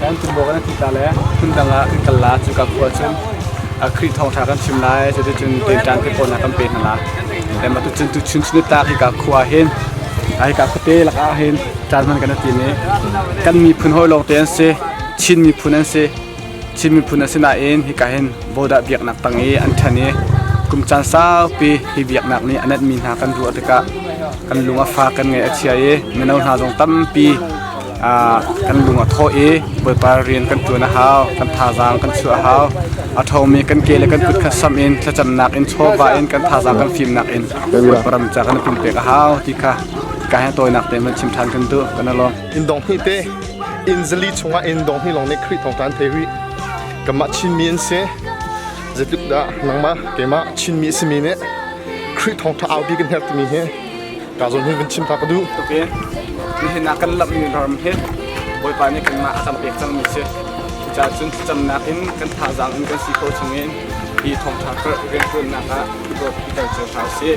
Kan ṭumbo kan i thihtak le phundang ah kan kal lai. Cuka khua cun Khrih thawngṭha kan chim lai. Cuticun tuiṭan hlipawnak kan pe hna lai. Mah tucun tuchun chun i tlak hika khua ahhin hika khuate lakah hin ṭan hman kan i tim i kan miphun hawi lawngte an si. Chin miphun an si. Chin miphun an si nain hika hin Bodah biaknak tang i an ṭhen i kum caan saupi hi biaknak nih a nenhmi hna kan ruah tikah kan lung a fak, kan ngaih a chia i mino hna zong tampi kan lung a thawh i Bawipa rian kan ṭuan a hau, kan thazaang kan chuah a hau. A ṭhomi kan ke le kan kut kha sam in thlacamnak in chawva in kan thazaang kan fimnak in Bawipa ram ca kan pumpek a hau ti kha ka he tawinak te hman chim ṭhan kan duh. Kan alawm. In dong hnih te in zali chungah in dong hnih lawng nih Khrih thawng ṭan thei rih. Kanmah Chinmi an si. Zeitluk dah nangmah keimah Chinmi a simi nih Khrih thawng ṭha aupi kan herh timi hi Kaa zul hi vun chim ta ka duh. Tuk i nihin ah kan lamhmi ram hi Bawipa nih kanmah a kan pek cangmi si. Cucaah cun thlacamnak in kan thazaang in kan si ko chungin hi thawngṭha karh rianṭuannak ah dawt pitar cu hna usih.